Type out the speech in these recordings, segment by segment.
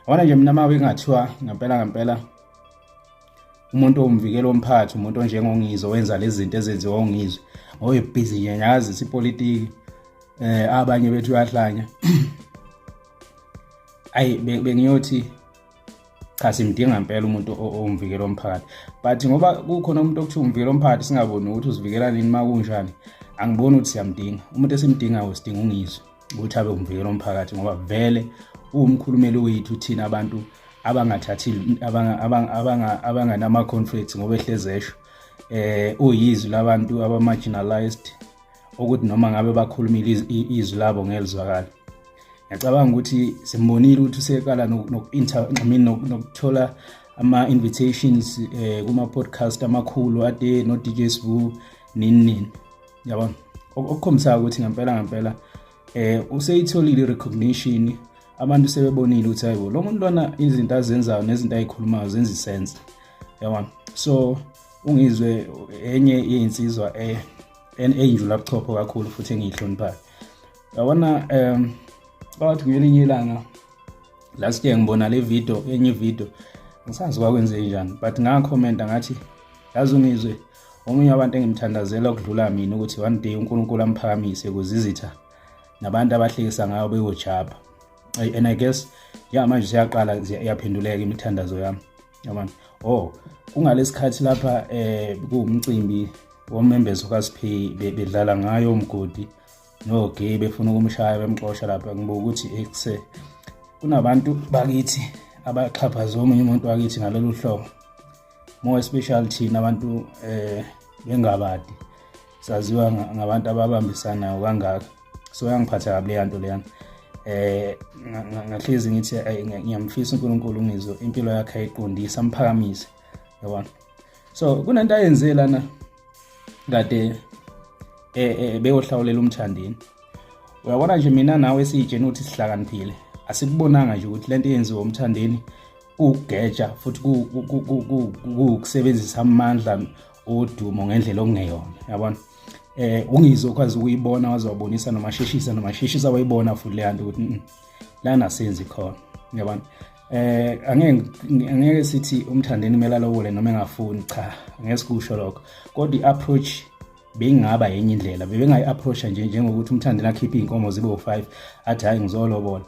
Awona nje mina mawe kungathiwa ngempela ngempela umuntu owumvikeli womphakathi umuntu onjengongizwe wenza lezi zinto ezenziwa ongizwe oyibhizi nje nyazi sipolitiki eh abanye bethu uyahlanya ayi bengiyothi cha simdinga impela umuntu owumvikeli womphakathi but ngoba kukhona umuntu okuthiwa umvikeli womphakathi singaboni ukuthi uzivikela nini uma kunjani angiboni ukuthi siyamdinga umuntu esimdingayo sidinga ungizwe ukuthi abe umvikelo omphakathi ngoba vele uwumkhulumeli wethu thina abantu abangathathi abanganama-conflicts ngoba ehlezesho eh uyizwi labantu aba-marginalized ukuthi noma ngabe bakhulumile izwi labo ngelizwakala ngiyacabanga ukuthi simbonile ukuthi usekala nokuthola ama-invitations um kuma-podcast amakhulu ade no-dj sbu nini nini yabona okukhombisayo ukuthi ngempela ngempela eh useyitholile i-recognition abantu sebebonile ukuthi hayibo lo muntu lona izinto azenzayo nezinto ayikhulumayo zenza isense yabona so ungizwe enye iyinsizwa eh enjula buchopho kakhulu futhi engiyihloniphayo yabona um bawathi ngelinye ilanga last year ngibona le video enye video ngisazi kwakwenze njani but ngakhomenta ngathi yazi ungizwe omunye wabantu engimthandazela ukudlula mina ukuthi one day unkulunkulu amphakamise kuze izitha nabantu abahlekisa ngayo beyojabha and i guess ya manje siyaqala yaphenduleka imithandazo yami yabona oh kungalesikhathi lapha eh kuwumcimbi womembezo kaSiphi bedlala ngayo umgodi no gay befuna ukumshaya bemxosha lapha ngibuka ukuthi ekuse eh, kunabantu bakithi abaxhaphaza omunye umuntu wakithi ngalolu hlobo more especially thina abantu um eh, bengabadi saziwa ngabantu ababambisanayo kangaka so yangiphatha kabi leya nto leyana eh ngahlezi ngithi ngiyamfisa uNkulunkulu ngizwe impilo yakhe ayiqondisa amphakamise yabona so kunento ayenzile lana kade eh, eh beyohlawulela umthandeni uyabona nje mina nawe siyijeni ukuthi sihlakaniphile asikubonanga nje ukuthi lento yenziwa umthandeni kugeja futhi kukusebenzisa amandla odumo ngendlela okungeyona yabona eh ungizo kwazi ukuyibona wazobonisa noma sheshisa noma sheshisa wayibona futhi le hantu ukuthi mm, lana senzi khona yabona eh angeke angeke sithi umthandeni kumele alowole noma engafuni cha angeke sikusho lokho kodwa i-approach bengingaba yenye indlela bebengayi-approacha nje njengokuthi umthandeni akhiphe iy'nkomo zibe u-five athi hhayi ngizolobola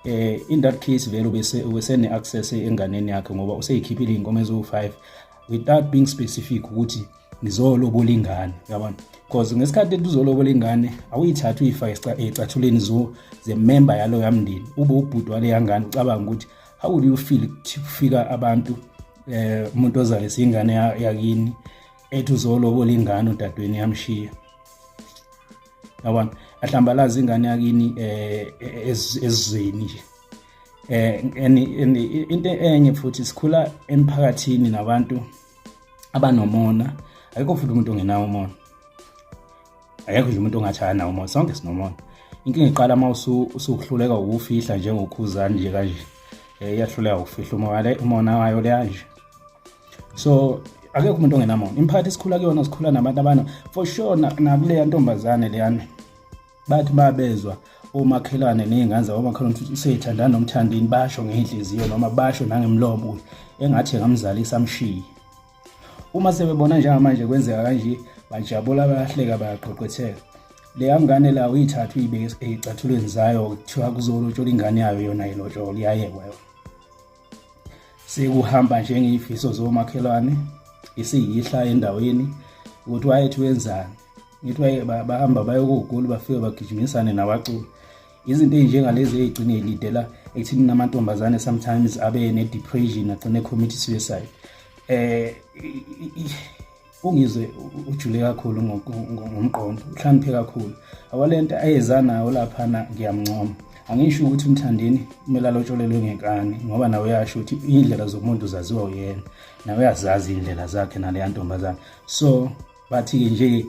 eh in that case vele bese wesene access enganeni yakhe ngoba useyikhiphile inkomo ezo5 without being specific ukuthi ngizolobola ingane yabona because ngesikhathi etuzolobola ingane awuyithatha uyifa ecathuleni zo ze member yalo yamndeni ube ubhuti wale yangane ucabanga ukuthi how would you feel kufika abantu eh umuntu ozalisa ingane yakini ethi uzolobola ingane udadweni yamshiya yabona ahlambalaza ingane yakini eh, eh ezweni nje eh into enye futhi sikhula emphakathini nabantu abanomona ayikho futhi umuntu ongenawo umona ayekho nje umuntu ongathaya nawo umona sonke sinomona inkinga iqala uma usuhluleka ukufihla njengokhuzani nje kanje eh, iyahluleka ukufihla umona wayo leya nje so akekho umuntu ongenamona imphakathi esikhula kuyona sikhula nabantu abana for sure nakuleya ntombazane leyana bathi babezwa omakhelwane ney'ngane zabo omakhelwane futhi useyithandana nomthandini basho ngey'nhliziyo noma basho nangemlomo ukuthi engathi ngamzalisa amshiye uma sebebona njengamanje kwenzeka kanje bajabula bayahleka bayaqhoqhetheka leya ngane la uyithatha uyibeke eyicathulweni zayo kuthiwa kuzolotshola ingane yayo yona ilotshola iyayekwa yona sekuhamba njengey'fiso zomakhelwane isiyihla endaweni ukuthi wayethi wenzani ngithi waye bahamba bayokogoli bafike bagijimisane nabaculi izinto ey'njengalezi ey'gcine lidela ekuthini namantombazane sometimes abe ne-depression agcine committee suicide um ungizwe ujule kakhulu ngomqondo uhlamphe kakhulu awalento ayeza nayo laphana ngiyamncoma angisho ukuthi umthandeni kumele alotsholelwe ngekani ngoba nawe uyasho ukuthi iy'ndlela zomuntu zaziwa uyena nawe uyazazi iy'ndlela zakhe naleya ntombazane so bathi-ke nje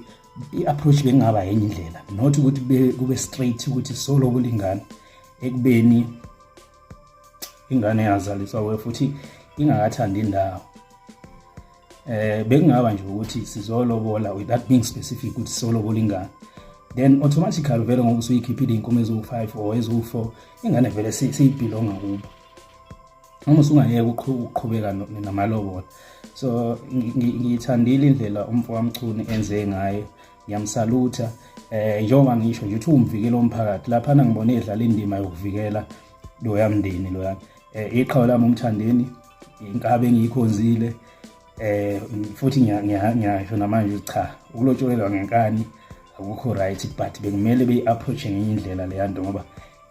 i-approach bekungaba yenye indlela not ukuthi kube straight ukuthi solo kulingana ekubeni ingane yazaliswa we futhi ingakathandi indawo eh bekungaba nje ukuthi sizolobola without being specific ukuthi sizolobola ingane then automatically vele ngoba usuyikhiphile inkomo eziwu-5 or eziwu-4 ingane vele siyibhilonga kubo noma usungayeka ukuqhubeka namalobola so ngiyithandile indlela umfo wamchuni enze ngayo ngiyamsalutha eh njengoba ngisho nje ukuthi uwumvikeli womphakathi laphana ngibone edlala indima yokuvikela loya mndeni loya eh iqhawe lami umthandeni inkabe engiyikhonzile eh futhi ngiyasho namanje cha ukulotsholelwa ngenkani akukho right but bekumele beyi-approach ngenye indlela leya nto ngoba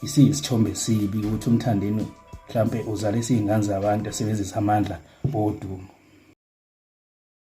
isiyisithombe esibi ukuthi umthandeni mhlawumpe uzalisa iy'ngane zabantu esebenzisa amandla odumo